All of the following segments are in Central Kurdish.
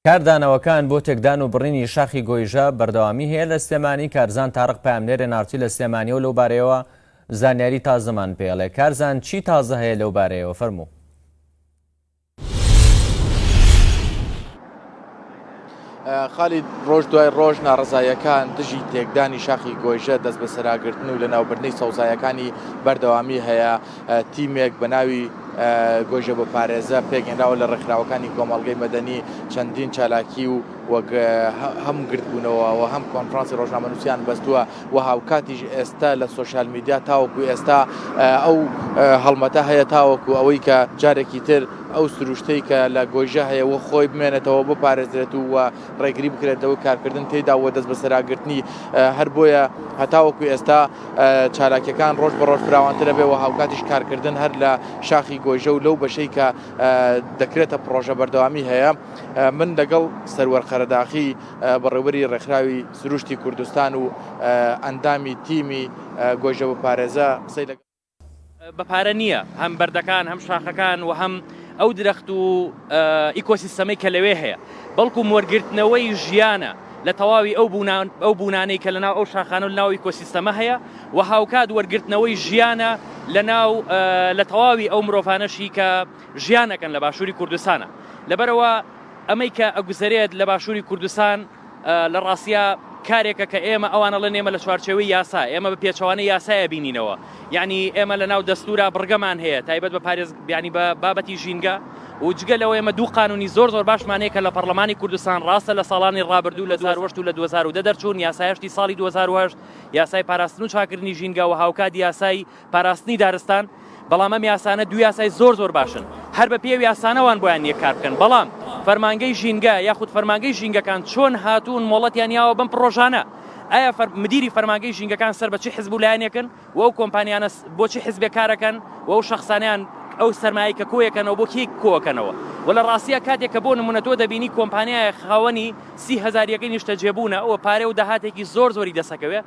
کاردانەوەکان بۆ تێکدان و بڕینی شاخی گۆیژە بەردەوامی هەیە لە سلێمانی، کارزان تارق پەیامنێرێ نارتی لە سلێمانیەوە لەو بارەیەوە زانیاری تازەمان پێڵێ. کارزان چی تازە هەیە لەو بارەیەوە فەرموو. خالی ڕۆژ دوای ڕۆژ ناڕزایەکان دژی تێکدانی شاخی گۆیژە دەست بەسەراگرتن و لە ناوبردنی سەوزایەکانی بەردەوامی هەیە تیمێک بە ناوی گۆیژە بۆ پارێزە پێکهێنراوە لە ڕێکخراوەکانی کۆمەڵگەی مەدەنی چەندین چالاکی و وەک هەم گردبوونەوە و هەم کۆنفرانسی ڕۆژنامەنووسیان بەستووە و هاوکاتیش ئێستا لە سوۆشال میدیا تاوەکو ئێستا ئەو هەڵمەتە هەیە تاوەکو ئەوەی کە جارێکی تر ئەو سروشتەی کە لە گۆیژە هەیە و خۆی بمێنێتەوە بۆ پارێزرێت و ڕێگری بکرێت لەوەی کارکردن تێدا و دەست بەسەراگرتنی هەر بۆیە هەتاوەکو ئێستا چالاکیەکان ڕۆژ بەڕۆژ فراوانترە بێ و هاوکاتیش کارکردن هەر لە شاخی گۆیژە و لەو بەشەی کە دەکرێتە پرۆژە بەردەوامی هەیە من لەگەڵ سەروەر قەرەداخی بەڕێوەری ڕێکخراوی سروشتی کوردستان و ئەندامی تیمی گۆیژە بپارێزە قسەی لەگەڵ بە پارە نییە هەم بەردەکان هەم شاخەکان و هەم ئەو درەخت و ئیکۆسیستەمەی کە لەوێ هەیە بەڵکو وەرگرتنەوەی ژیانە لە تەواوی ئەو بوونان ئەو بوونانەی کە لە ناو ئەو شاخان و ناوی کۆسیستەمە هەیە و هاوکات وەرگرتنەوەی ژیانە لە ناو لە تەواوی ئەو مرۆڤانەشی کە ژیانەکەن لە باشووری کوردستانە لەبەرەوە ئەمەی کە ئەگوزەرێت لە باشووری کوردستان لە ڕاستیا کارێکە کە ئێمە ئەوانەڵێن ئێمە لە چوارچەوەی یاسا ئێمە بە پێچوانە یاسایە بینینەوە یعنی ئێمە لە ناو دەستورا بڕگەمان هەیە تایبەت بە پارێز بیانی بە بابەتی ژینگە و جگە لەوە ئێمە دوو قانونی زۆر زۆر باشمانەیە کە لە پەرلەمانی کوردستان ڕاستە لە ساڵانی ڕابردوو لە زاروەشت و لە 2010 دەرچوون یاسایشتی ساڵی 2010 یاسای پاراستن و چاکردنی ژینگە و هاوکات یاسای پاراستنی دارستان، بەڵام ئەم یاسانە دوو یاسای زۆر زۆر باشن هەر بە پێی ئەو یاسانە وان بۆیان نییە کار بکەن بەڵام فەرمانگەی ژینگە یاخود فەرمانگەی ژینگەکان چۆن هاتوون مۆڵەتیان یاوە بەم پڕۆژانە ئایا فەر مدیری فەرمانگەی ژینگەکان سەر بە چی حزب و لایەنێکن و ئەو کۆمپانیانە بۆچی حزبێک کارەکەن و ئەو شخصانیان ئەو سەرمایە کە کۆیەکەنەوە بۆ کێک کۆکەنەوە و لە ڕاستیە کاتێک کە بۆ نمونە تۆ دەبینی کۆمپانیایە خاوەنی سی هزاریەکەی نیشتە جێبوونە ئەوە پارێ و داهاتێکی زۆر زۆری دەسەکەوێ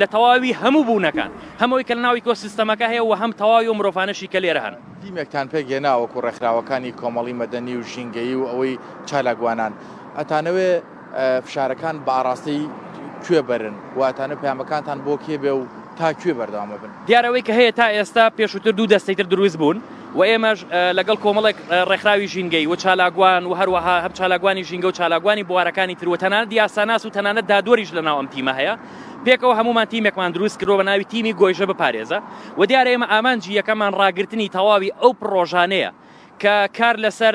لە تەواوی هەموو بوونەکان، هەم ئەوەی کە لەناو ئیکۆسیستەمەکە هەیە و هەم تەواوی ئەو مرۆڤانەشی کە لێرە هەن. تیمێکتان پێک هێنا وەکوو ڕێکخراوەکانی کۆمەڵی مەدەنی و ژینگەیی و ئەوەی چالاکوانان. ئەتانەوێ فشارەکان بە ئاڕاستەی کوێ بەرن و ئەتانەوێ پەیامەکانتان بۆ کێ بێ و تا کوێ بەردەوام ئەبن؟ دیارە ئەوەی کە هەیە تا ئێستا، پێشووتر دوو دەستەی تر دروست بوون، و ئێمەش لەگەڵ کۆمەڵێک ڕێکخراوی ژینگەی و چالاکوان و هەروەها هەم چالاکوانی ژینگە و چالاکوانی بوارەکانی تر و تەنانەت دیاساناس و تەنانەت دادوەریش لە ناو ئەم تیمە هەیە پێکەوە هەمومان تیمێکمان دروست کردو بە ناوی تیمی گۆیژە بپارێزە و دیارە ئێمە ئامانجی یەکەمان ڕاگرتنی تەواوی ئەو پڕۆژانەیە کە کار لەسەر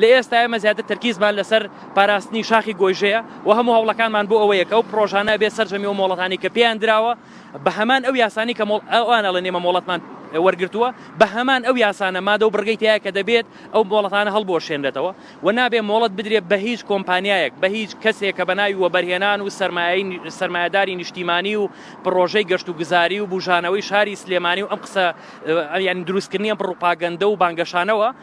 لە ئێستا ئێمە زیاتر تەرکیزمان لەسەر پاراستنی شاخی گۆیژەیە و هەموو هەوڵەکانمان بۆ ئەوەیە کە ئەو پڕۆژانە بێت سەرجەمی و مۆڵەتانی کە پێیان دراوە بە هەمان ئەو یاسانی کە ئەوان ئەڵێن ئێمە مۆڵەتمان وەرگرتووە بە هەمان ئەو یاسانە مادە و بڕگەی تایە کە دەبێت ئەو مۆڵەتانە هەڵبۆشێنرێتەوە و نابێ مۆڵەت بدرێت بە هیچ کۆمپانیایەک بە هیچ کەسێک کە بە ناوی وەبەرهێنان و سەرمایە سەرمایەداری نیشتیمانی و پڕۆژەی گەشت و گوزاری و بژانەوەی شاری سلێمانی و ئەم قسە یان دروستکردنی ئەم پڕوپاگەندە و بانگەشانەوە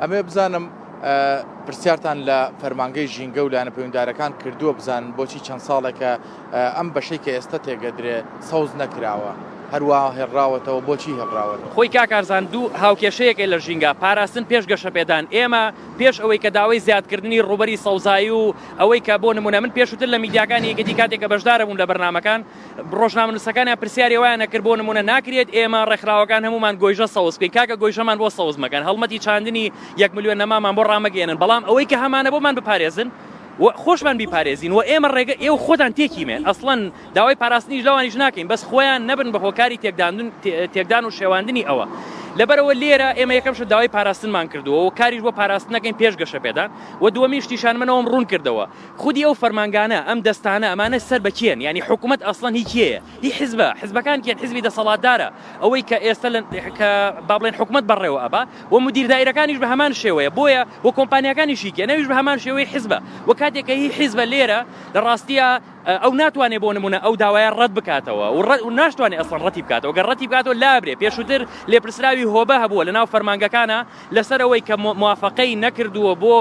ئەمەوێ بزانم پرسیارتان لە فەرمانگەی ژینگە و لایەنە پەیوەندارەکان کردووە بزانن بۆچی چەند ساڵێکە ئەم بەشەی کە ئێستا تێگەدرێ سەوز نەکراوە هەروە هێڵراوەتەوە بۆچی هێڵراوەتەوە. خۆی کاک ئارزان دوو هاوکێشەیەکە لە ژینگە، پاراستن پێش گەشەپێدان، ئێمە پێش ئەوەی کە داوای زیادکردنی ڕووبەری سەوزایی و ئەوەی کە بۆ نموونە من پێشووتر لە میدیاکانی یەکێتی کاتێک کە بەشداربووم لە بەرنامەکان، ڕۆژنامەنووسەکانیان پرسیاری وایان نەکرد بۆ نمونە ناکرێت ئێمە ڕێکخراوەکان هەمومان گۆیژە سەوز بکەین کاکە گۆیژەمان بۆ سەوز مەکەن هەڵمەتی چاندنی یەک ملیۆن نەمامان بۆ ڕامەگەیەنن بەڵام ئەوەی کە هەمانە بۆمان بپارێزن و خۆشمان بیپارێزین و ئێمە ڕێگە ئێوە خۆتان تێکیمێن ئەسڵەن داوای پاراستنیش لەوانیش ناکەین بەس خۆیان نەبن بە هۆکاری تێکداندن تێکدان و شێواندنی ئەوە لەبەرەوە لێرە ئێمە یەکەمشە داوای پاراستنمان کردووە و کاریش بۆ پاراستنەکەین پێش گەشە پێدان و دووەمیش تیشانمەەوەم ڕوون کردەوە خودی ئەو فەرمانگانە، ئەم دەستانە، ئەمانە سەر بە کێن؟ یانی حکومەت ئەسڵەن هی کێیە؟ هی حزبە؟ حزبەکان کێن؟ حزبی دەسەڵاتدارە، ئەوەی کە ئێستە لە، کە با بڵێین حکومەت بەڕێوە ئەبا، و مودیر دائیرەکانیش بە هەمان شێوەیە، بۆیە، و کۆمپانیاکانیش هی کێن؟ ئەویش بە هەمان شێوەی حزبە، و کاتێک کە هی حزبە لێرە، لە ڕاستیا، ئەو ناتوانێ بۆ نموونە ئەو داوایە ڕەت بکاتەوە، و ڕەت، و ناشتوانێ ئەسڵەن ڕەتی بکاتەوە، گەر ڕەتی بکاتەوە لابرێ، پێشووتر لێپرسراوی هۆبە هەبووە لە ناو فەرمانگەکانا لە سەر ئەوەی کە مو، موافەقەی نەکردووە بۆ،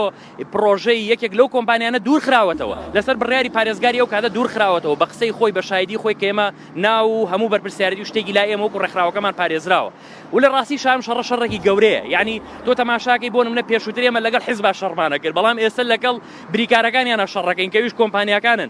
پڕۆژەی یەکێک لەو کۆمپانیانە دوورخراوەتەوە، لەسەر بڕیاری پارێزگاری ئەو کاتە دوورخراوەتەوە، بە قسەی خۆی، بە شایدی خۆی کە ئێمە ناو و هەموو بەرپرسیارێتی و شتێکی لای ئێمە وەکو ڕێکخراوەکەمان پارێزراوە و لە ڕاستی شا ئەم شەڕە شەڕێکی گەورەیە یانی تۆ تەماشاکەی بۆ نمونە پێشووتر ئێمە لەگەڵ حیزبا شەڕمان ئەکرد بەڵام ئێستە لەگەڵ بریکارەکانیانا شەڕەکەین کە ئەویش کۆمپانیاکانن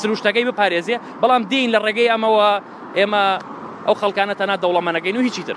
سروشتەکەی بپارێزێ، بەڵام دێین لە ڕێگەی ئەمەوە ئێمە ئەو خەڵکانە تەنها دەوڵەمەنەکەین و هیچی تر.